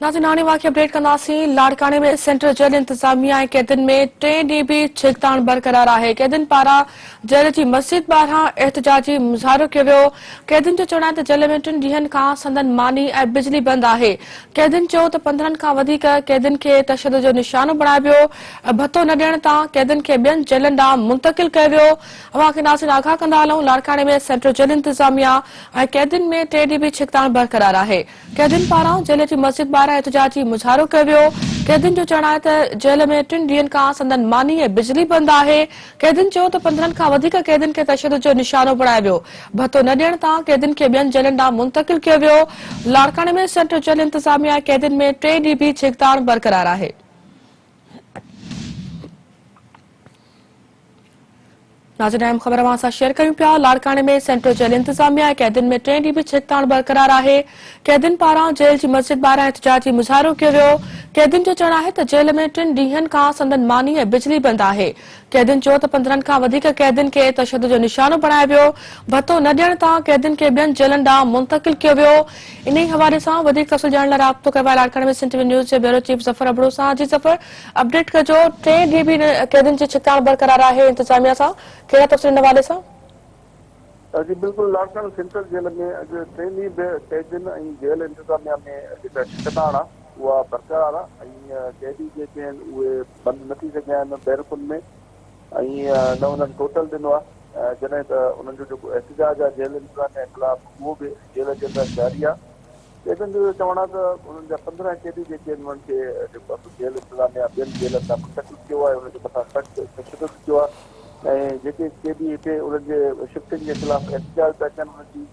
ناظرين هاڻي واقعي اپڊيٽ ڪنداسين لاڙڪاڻي ۾ سينٽر جيل انتظاميه ۽ قيدين ۾ ٽئين ڏينهن به ڇڪتاڻ برقرار آهي قيدين پاران جيل جي مسجد ٻاهران احتجاجي مظاهرو ڪيو ويو قيدين جو چوڻ آهي ته جيل ۾ ٽن ڏينهن کان سندن ماني ۽ بجلي بند آهي قيدين چيو ته پندرهن کان وڌيڪ قيدين کي تشدد جو نشانو بڻايو ويو ڀتو نه ڏيڻ تان قيدين کي ٻين جيلن ڏانهن منتقل ڪيو ويو اوهان کي ناظرين آگاهه ڪندا هلون لاڙڪاڻي ۾ سينٽر جيل انتظاميه ۽ قيدين ۾ ٽئين ڏينهن به ڇڪتاڻ برقرار آهي قيدين پاران جيل جي مسجد ٻاهران احتجاجي مظاهرو ڪيو ويو، قيدين جو چوڻ آهي ته جيل ۾ ٽن ڏينهن کان سندن ماني ۽ بجلي بند آهي، قيدين چيو ته پندرهن کان وڌيڪ قيدين کي تشدد جو نشانو بڻايو ويو، ڀتو نه ڏيڻ تان قيدين کي ٻين جيلن ڏانهن منتقل ڪيو ويو، لاڙڪاڻي ۾ سينٽرل جيل انتظاميا ۽ قيدين ۾ ٽئين ڏينهن به جهڪتاڻ برقرار آهي. ناظرين اهم خبر اوهان سان شيئر ڪريون پيا لاڙڪاڻي ۾ سينٽرل جيل انتظاميا قيدين ۾ ٽئين ڏينهن به ڇڪتاڻ برقرار آهي قيدين پاران جيل جي مسجد ٻاهران احتجاجي مظاهرو ڪيو ويو قيدين جو چوڻ آهي ته جيل ۾ ٽن ڏينهن کان سندن ماني ۽ بجلي بند آهي قيدين چيو ته پندرهن کان وڌيڪ قيدين کي تشدد جو نشانو بڻايو ويو ڀتو نه ڏيڻ تان قيدين کي ٻين جيلن ڏانهن منتقل ڪيو ويو انهي حوالي سان وڌيڪ تفصيل ڄاڻڻ لاء رابطو ڪيو آهي لاڙڪاڻي ۾ سنٽ وي نيوز جي بيورو چيف ظفر ابڙو سان جي ظفر اپڊيٽ ڪجو، ٽئين ڏينهن به قيدين جي ڇڪتاڻ برقرار آهي، انتظاميا سان ڪهڙا تفصيل ان حوالي سان؟ جي بلڪل لاڙڪاڻي سينٽرل جيل ۾ اڄ ٽئين ڏينهن به قيدين ۽ جيل انتظاميا ۾ جيڪا ڇڪتاڻ آ اها برقرار آ ۽ قيدي جيڪي آهن اهي بند نه ٿي سگهيا آهن بيرڪن ۾ ۽ نه انهن ٽوٽل ڏنو آ جڏهن ته انهن جو جيڪو احتجاج آ جيل انتظاميا خلاف اهو به جيل جي اندر جاري آ قيدين جو اهو چوڻ آهي ته انهن جا پندرهن قيدي جيڪي آهن انهن کي جيڪو آهي سو جيل انتظاميا ٻين جيلن ڏانهن منتقل ڪيو آهي انهن جي مٿان سخت تشدد ٿيو آهي ۽ جيڪي قيدي هتي انهن جي شفٽنگ جي خلاف احتجاج پيا ڪن انهن جي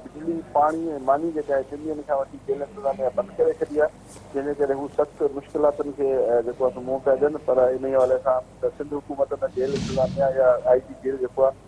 بجلي، پاڻي ۽ ماني جيڪا آهي ٽن ڏينهن کان وٺي جيل انتظاميا بند ڪري ڇڏي آهي جنهن جي ڪري هو سخت مشڪلاتن کي جيڪو آهي سو منهن پيا ڏين پر انهي حوالي سان ته سنڌ حڪومت نه جيل انتظاميا يا آء جي جيل جيڪو آهي